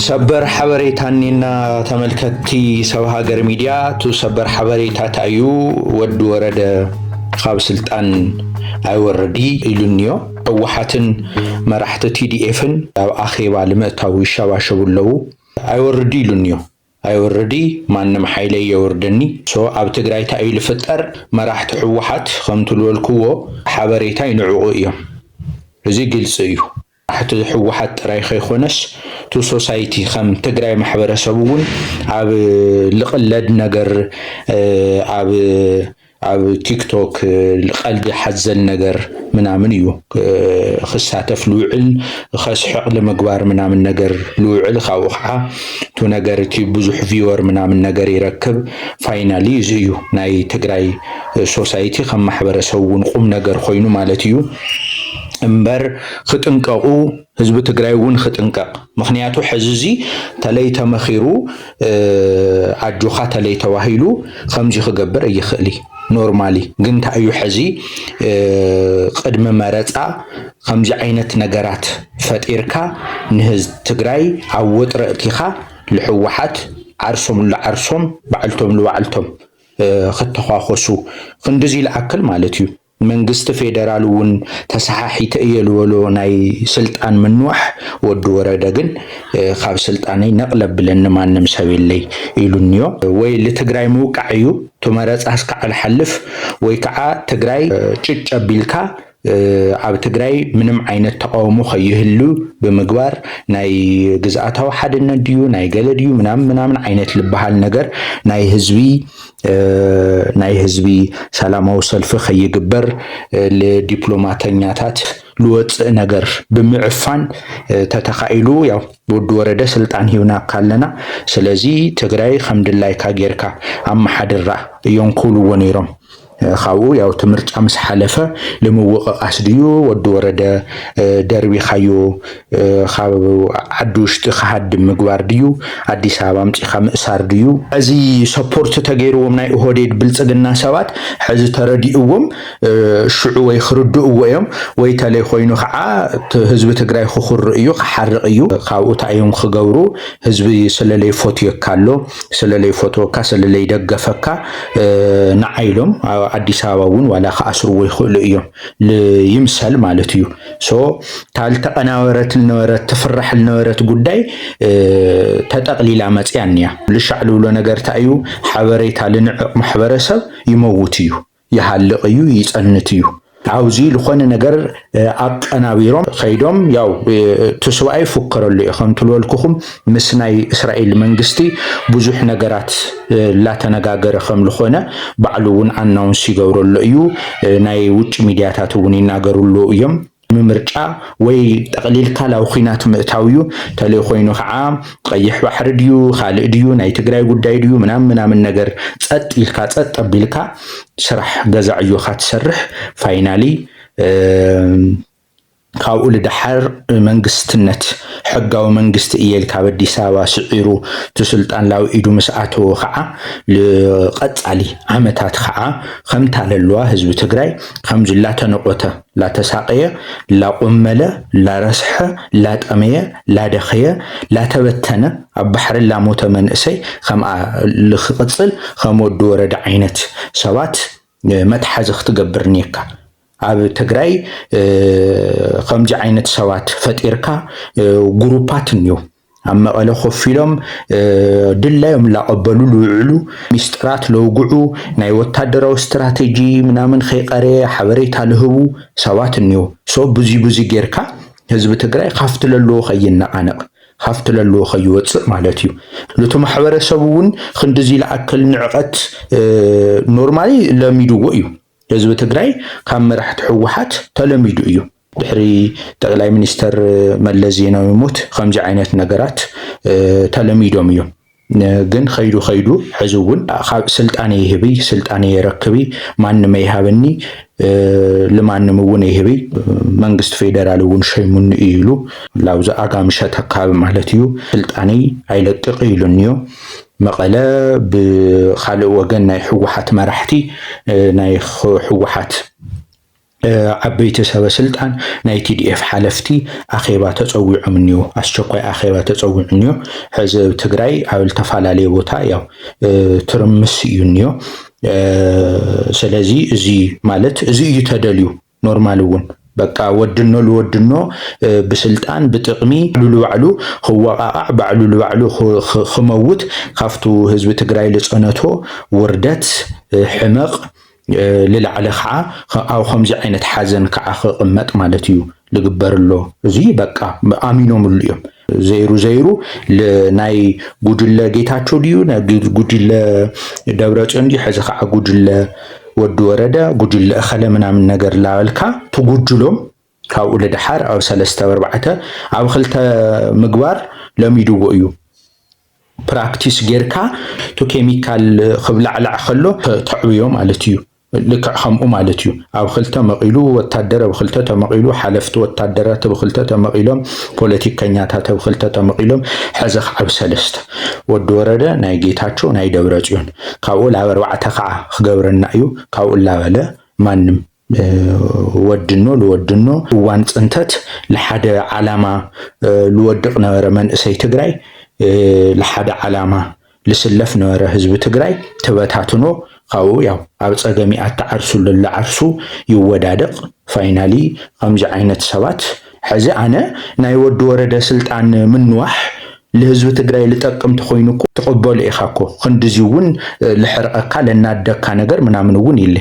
ሰበር ሓበሬታ እኒና ተመልከትቲ ሰብ ሃገር ሚድያ እቱ ሰበር ሓበሬታ ታዩ ወዲ ወረደ ካብ ስልጣን ኣይወረዲ ኢሉኒዮ ህወሓትን መራሕቲ ቲዲኤፍን ኣብ ኣኼባ ልምእታው ይሸባሸቡ ኣለዉ ኣይወርዲ ኢሉኒዮ ኣይወርዲ ማንም ሓይለ የወርደኒ ሶ ኣብ ትግራይ እንታይ እዩ ዝፍጠር መራሕቲ ህወሓት ከምቲ ዝበልክዎ ሓበሬታ ይንዕቑ እዮም እዚ ግልፂ እዩ ኣሕቲ ህወሓት ጥራይ ከይኮነስ ቱ ሶሳይቲ ከም ትግራይ ማሕበረሰብ እውን ኣብ ልቕለድ ነገር ኣብ ኣብ ቲክቶክ ቀልዲ ሓዘል ነገር ምናምን እዩ ክሳተፍ ልውዕል ከስሕቕ ንምግባር ምናምን ነገር ልውዕል ካብኡ ከዓ እቲ ነገር እቲ ብዙሕ ቪወር ምናምን ነገር ይረክብ ፋይናሊ እዚ እዩ ናይ ትግራይ ሶሳይቲ ከም ማሕበረሰብ እውን ቁም ነገር ኮይኑ ማለት እዩ እምበር ኽጥንቀቁ ህዝቢ ትግራይ እውን ኽጥንቀቅ ምኽንያቱ ሕዚ እዚ ተለይ ተመኺሩ ኣጆኻ ተለይ ተባሂሉ ኸምዚ ኽገብር እይኽእሊ ኖርማሊ ግን ታይ እዩ ሕዚ ቕድሚ መረፃ ኸምዚ ዓይነት ነገራት ፈጢርካ ንህዝ ትግራይ ኣብ ወጥሪ እእቲኻ ልሕዋሓት ዓርሶም ልዓርሶም ባዕልቶም ልባዕልቶም ኽተዃኾሱ ኽንድዚ ልኣክል ማለት እዩ መንግስቲ ፌደራል እውን ተሰሓሒተ እየ ልበሎ ናይ ስልጣን ምንዋሕ ወዲ ወረደ ግን ካብ ስልጣነይ ነቅል ኣብለኒ ማንም ሰብ የለይ ኢሉኒዮ ወይ ልትግራይ ምውቃዕ እዩ ቱመረፃ እስካዕ ልሓልፍ ወይ ከዓ ትግራይ ጭጭ ኣቢልካ ኣብ ትግራይ ምንም ዓይነት ተቃውሞ ከይህሉ ብምግባር ናይ ግዝኣታዊ ሓድነት ድዩ ናይ ገለ ድዩ ምናምን ምናምን ዓይነት ልበሃል ነገር ናይ ህዝቢ ናይ ህዝቢ ሰላማዊ ሰልፊ ከይግበር ለዲፕሎማተኛታት ልወፅእ ነገር ብምዕፋን ተተኻኢሉ ያው ወዲ ወረደ ስልጣን ሂብናካ ኣለና ስለዚ ትግራይ ከም ድላይካ ጌርካ ኣመሓድራ እዮም ክብልዎ ነይሮም። ካብኡ ያው እቲ ምርጫ ምስ ሓለፈ ንምውቕቓስ ድዩ ወዲ ወረደ ደርቢኻዮ ኻብ ዓዲ ውሽጢ ክሃድም ምግባር ድዩ ኣዲስ ኣበባ ኣምፂኻ ምእሳር ድዩ? እዚ ሰፖርት ተገይርዎም ናይ ኦሆዴድ ብልፅግና ሰባት ሕዚ ተረዲእዎም ሽዑ ወይ ኽርድእዎ እዮም ወይ ተለይ ኾይኑ ኻዓ ህዝቢ ትግራይ ኽኹርእ እዩ ኽሓርቅ እዩ ኻብኡ ታይ እዮም ኽገብሩ ህዝቢ ስለለይፎትየካ ኣሎ ስለለይፎተወካ ስለለይደገፈካ ናዓ ኢሎም ኣዲስ ኣበባ እውን ዋላ ኽኣስርዎ ይኽእሉ እዮም ይምሰል ማለት እዩ ሶ ታልተቀናበረት ልነበረት ትፍራሕ ልነበረት ጉዳይ ተጠቅሊላ መፅያን እያ ልሻዕ ልብሎ ነገር እንታይ እዩ ሓበሬታ ልንዕቅ ማሕበረሰብ ይመውት እዩ ይሃልቅ እዩ ይፀንት እዩ ኣብዚ ዝኾነ ነገር ኣቀናቢሮም ከይዶም ያው እቲ ስብኣይ ይፉከረሉ እዩ ከምትልበልኩኹም ምስ ናይ እስራኤል መንግስቲ ብዙሕ ነገራት ላተነጋገረ ከም ልኾነ ባዕሉ እውን ኣናውንስ ይገብሮ ኣሎ እዩ። ናይ ውጭ ሚዲያታት እውን ይናገሩ ኣለዉ እዮም። ምምርጫ ወይ ጠቕሊልካ ላብ ኹናት ምእታው እዩ። ተለይ ኾይኑ ከዓ ቐይሕ ባሕሪ ድዩ ኻልእ ድዩ ናይ ትግራይ ጉዳይ ድዩ ምናምን ምናምን ነገር ፀጥ ኢልካ ፀጥ ኣቢልካ ስራሕ ገዛ ዕዮኻ ትሰርሕ ፋይናሊ ካብኡ ልድሓር መንግስትነት ሕጋዊ መንግስቲ እየ ኢልካ ኣብ ኣዲስ ኣበባ ስዒሩ እቲ ስልጣን ላብ ኢዱ ምስ ኣተወ ከዓ ልቀፃሊ ዓመታት ከዓ ከምታ ለለዋ ህዝቢ ትግራይ ከምዚ ላተነቆተ ላተሳቀየ ላቆመለ ላረስሐ ላጠመየ ላደኸየ ላተበተነ ኣብ ባሕሪ ላሞተ መንእሰይ ከምኣ ልክቅፅል ከም ወዲ ወረደ ዓይነት ሰባት መትሓዚ ክትገብር እኒኤካ። ኣብ ትግራይ ኸምዚ ዓይነት ሰባት ፈጢርካ ጉሩፓት እንዮ ኣብ መቐለ ኮፍ ኢሎም ድላዮም ላቐበሉ ልውዕሉ ሚስጥራት ለውግዑ ናይ ወታደራዊ ስትራቴጂ ምናምን ከይቐረየ ሓበሬታ ልህቡ ሰባት እንዮ ሶ ብዙ ብዙ ጌርካ ህዝቢ ትግራይ ካፍቲ ለለዎ ከይነቓነቕ ካፍቲ ለለዎ ከይወፅእ ማለት እዩ ልቱ ማሕበረሰብ እውን ክንድዚ ልኣክል ንዕቐት ኖርማሊ ለሚድዎ እዩ ህዝቢ ትግራይ ካብ መራሕቲ ህወሓት ተለሚዱ እዩ። ድሕሪ ጠቅላይ ሚኒስተር መለስ ዜናዊ ሞት ከምዚ ዓይነት ነገራት ተለሚዶም እዮም። ግን ከይዱ ከይዱ ሕዚ እውን ካብ ስልጣን ይህቢ ስልጣን የረክቢ ማንም ኣይሃበኒ ልማንም እውን ይህቢ መንግስቲ ፌደራል እውን ሸይሙኒ እዩ ኢሉ ላብዚ ኣጋምሸ ተካቢ ማለት እዩ ስልጣነይ ኣይለቅቅ ኢሉኒ እዩ መቐለ ብኻልእ ወገን ናይ ህወሓት መራሕቲ ናይ ህወሓት ዓበይቲ ሰበ ስልጣን ናይ ቲዲኤፍ ሓለፍቲ ኣኼባ ተፀዊዖም እኒዮ ኣስቸኳይ ኣኼባ ተፀዊዑ እኒዮ ሕዚ ኣብ ትግራይ ኣብ ዝተፈላለየ ቦታ ያው ትርምስ እዩ እኒዮ ስለዚ እዚ ማለት እዚ እዩ ተደልዩ ኖርማል እውን በቃ ወድኖ ልወድኖ ብስልጣን ብጥቕሚ ባዕሉ ልባዕሉ ክወቓቓዕ ባዕሉ ልባዕሉ ክመውት ካብቱ ህዝቢ ትግራይ ልፀነቶ ውርደት ሕመቕ ልላዕሊ ከዓ ኣብ ከምዚ ዓይነት ሓዘን ከዓ ክቕመጥ ማለት እዩ ልግበርሎ እዙይ በቃ ኣሚኖምሉ እዮም። ዘይሩ ዘይሩ ናይ ጉድለ ጌታቸው ድዩ ጉድለ ደብረፅዮን ድዩ ሕዚ ከዓ ጉድለ ወዲ ወረደ ጉድለ እኸለ ምናምን ነገር ላበልካ ትጉድሎም ካብኡ ልድሓር ኣብ ሰለስተ ኣርባዕተ ኣብ ክልተ ምግባር ለሚድዎ እዩ ፕራክቲስ ጌርካ ቱ ኬሚካል ክብላዕላዕ ከሎ ተዕብዮ ማለት እዩ። ልክዕ ከምኡ ማለት እዩ ኣብ ኽልተ መቂሉ ወታደር ብ ኽልተ ተመቂሉ ሓለፍቲ ወታደራት ብ ኽልተ ተመቂሎም ፖለቲከኛታት ብ ኽልተ ተመቂሎም ሐዚ ኽዓ ብ ሰለስተ ወዲ ወረደ ናይ ጌታቸው ናይ ደብረፅዮን ካብኡ ላብ ኣርባዕተ ኽዓ ኽገብረና እዩ ካብኡ እላበለ ማንም ወድኖ ልወድኖ እዋን ፅንተት ልሓደ ዓላማ ልወድቅ ነበረ መንእሰይ ትግራይ ልሓደ ዓላማ ልስለፍ ነበረ ህዝቢ ትግራይ ተበታትኖ ካብኡ ያው ኣብ ፀገም ኢያ ትዓርሱ ለላ ዓርሱ ይወዳደቅ ፋይናሊ ከምዚ ዓይነት ሰባት ሐዚ ኣነ ናይ ወዲ ወረደ ስልጣን ምንዋሕ ልህዝቢ ትግራይ ልጠቅም ተኮይኑ እኮ ትቅበሎ ኢካ እኮ ክንድዚ እውን ልሕርቀካ ለናድደካ ነገር ምናምን እውን ይለ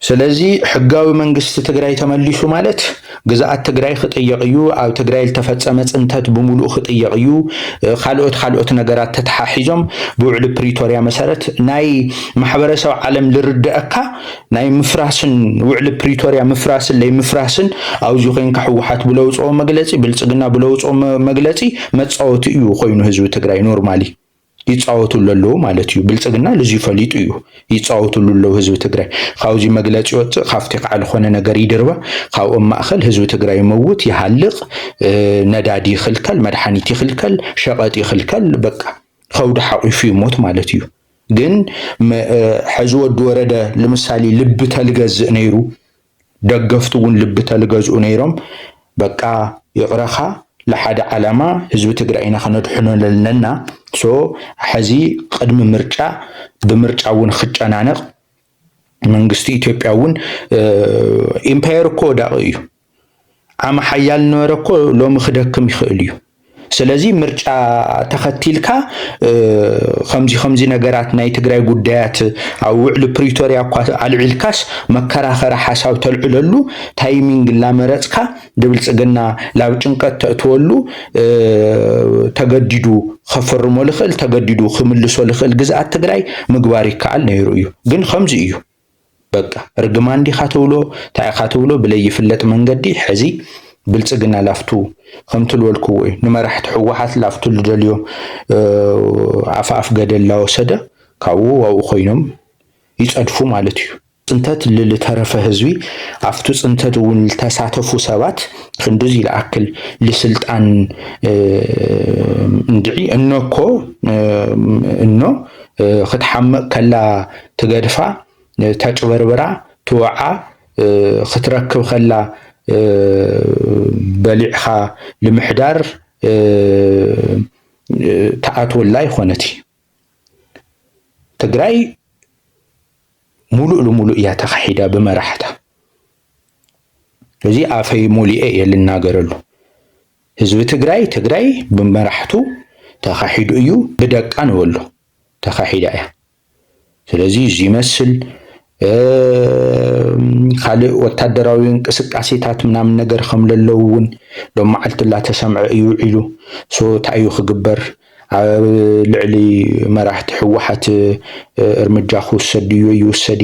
ስለዚ ሕጋዊ መንግስቲ ትግራይ ተመሊሱ ማለት ግዝኣት ትግራይ ክጥየቕ እዩ፣ ኣብ ትግራይ ልተፈፀመ ፅንተት ብሙሉኡ ክጥየቕ እዩ፣ ካልኦት ካልኦት ነገራት ተተሓሒዞም ብውዕሊ ፕሪቶርያ መሰረት ናይ ማሕበረሰብ ዓለም ልርደኣካ ናይ ምፍራስን ውዕሊ ፕሪቶርያ ምፍራስን ለይምፍራስን ኣብዚ ኮይንካ ህወሓት ብለውፅኦ መግለፂ ብልፅግና ብለውፅኦ መግለፂ መፃወቲ እዩ ኮይኑ ህዝቢ ትግራይ ኖርማሊ ይፃወቱሉ ኣለዉ ማለት እዩ ብልፅግና ልዙይ ፈሊጡ እዩ ይፃወቱሉ ኣለዉ ህዝቢ ትግራይ ካብዙይ መግለፂ ይወፅእ ካብቲ ከዓ ልኾነ ነገር ይድርባ ካብኦም ማእኸል ህዝቢ ትግራይ ይመውት ይሃልቅ ነዳዲ ይኽልከል መድሓኒት ይኽልከል ሸቐጥ ይኽልከል በቃ ከብዱ ሓቂፉ ይሞት ማለት እዩ ግን ሕዚ ወዲ ወረደ ልምሳሌ ልቢ ተልገዝእ ነይሩ ደገፍቱ እውን ልቢ ተልገዝኡ ነይሮም በቃ ይቅረኻ ልሓደ ዓላማ ህዝቢ ትግራይ ኢና ክነድሕኖ ለለና so ሐዚ ቅድሚ ምርጫ ብምርጫ እውን ክጨናነቅ መንግስቲ ኢትዮጵያ እውን ኢምፓየር እኮ ወዳቂ እዩ ዓሚ ሓያል ነበረ እኮ ሎሚ ክደክም ይክእል እዩ ስለዚ ምርጫ ተኸቲልካ ከምዚ ከምዚ ነገራት ናይ ትግራይ ጉዳያት ኣብ ውዕሊ ፕሪቶርያ እኳ ኣልዒልካስ መከራኸሪ ሓሳብ ተልዕለሉ ታይሚንግ እናመረፅካ ንብልፅግና ላብ ጭንቀት ተእትወሉ ተገዲዱ ከፍርሞ ልኽእል ተገዲዱ ክምልሶ ልኽእል ግዝኣት ትግራይ ምግባር ይከኣል ነይሩ እዩ ግን ከምዚ እዩ በቃ እርግማን ዲኻ ትብሎ ታይ ኢኻ ትብሎ ብለይፍለጥ መንገዲ ሐዚ ብልፅግና ላፍቱ ከምቲ ልበልክዎ እዩ ንመራሕቲ ህወሓት ላፍቱ ልደልዮ ኣፍ ኣፍ ገደል ላወሰደ ካብኡ ኣብኡ ኮይኖም ይፀድፉ ማለት እዩ። ፅንተት ልልተረፈ ህዝቢ ኣብቲ ፅንተት እውን ልተሳተፉ ሰባት ክንድዚ ልኣክል ልስልጣን እንድዒ እኖኮ እኖ ክትሓምቕ ከላ ትገድፋ ተጭበርብራ ትወዓ ክትረክብ ከላ በሊዕኻ ልምሕዳር ትኣትወላ ይኾነት ትግራይ ሙሉእ ልሙሉእ እያ ተኻሒዳ ብመራሕታ እዚ ኣፈይ ሞሊኤ እየ ልናገረሉ ህዝቢ ትግራይ ትግራይ ብመራሕቱ ተኻሒዱ እዩ ብደቃ ንበሎ ተኻሒዳ እያ ስለዚ እዚ ይመስል ካልእ ወታደራዊ እንቅስቃሴታት ምናምን ነገር ከም ለለው እውን ሎም መዓልቲ እናተሰምዐ እዩ ውዒሉ ሶ እንታይ እዩ ክግበር ኣብ ልዕሊ መራሕቲ ህወሓት እርምጃ ክውሰድ ድዩ ይውሰድ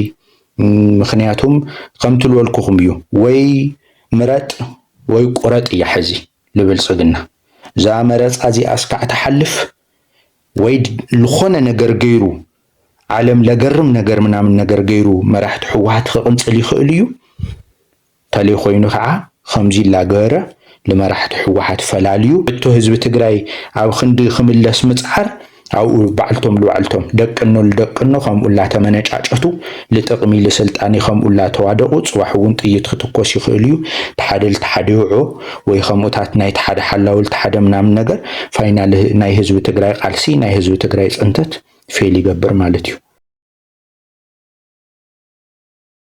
ምክንያቱም ከምቲ ልበልኩኹም እዩ ወይ ምረጥ ወይ ቁረጥ እያ ሕዚ ልብልፅግና እዛ መረፃ እዚኣ እስካዕ ትሓልፍ ወይ ልኾነ ነገር ገይሩ ዓለም ለገርም ነገር ምናምን ነገር ገይሩ መራሕቲ ሕወሓት ኽቕንፅል ይኽእል እዩ ተለይኾይኑ ኸዓ ኸምዙይ ላገበረ ልመራሕቲ ሕወሓት ፈላልዩ እቶ ህዝቢ ትግራይ ኣብ ኽንዲ ኽምለስ ምፅዓር ኣብኡ ባዕልቶም ልባዕልቶም ደቅኖ ልደቅኖ ኸምኡ ላተመነጫጨቱ ልጥቕሚ ልስልጣን ይኸምኡ እላተዋደቑ ፅባሕ እውን ጥይት ክትኮስ ይኽእል እዩ ትሓደ ልትሓደ ይውዖ ወይ ኸምኡታት ናይ ትሓደ ሓላዊ ልትሓደ ምናምን ነገር ፋይናል ናይ ህዝቢ ትግራይ ቓልሲ ናይ ህዝቢ ትግራይ ፅንተት ፌል ይገብር ማለት እዩ።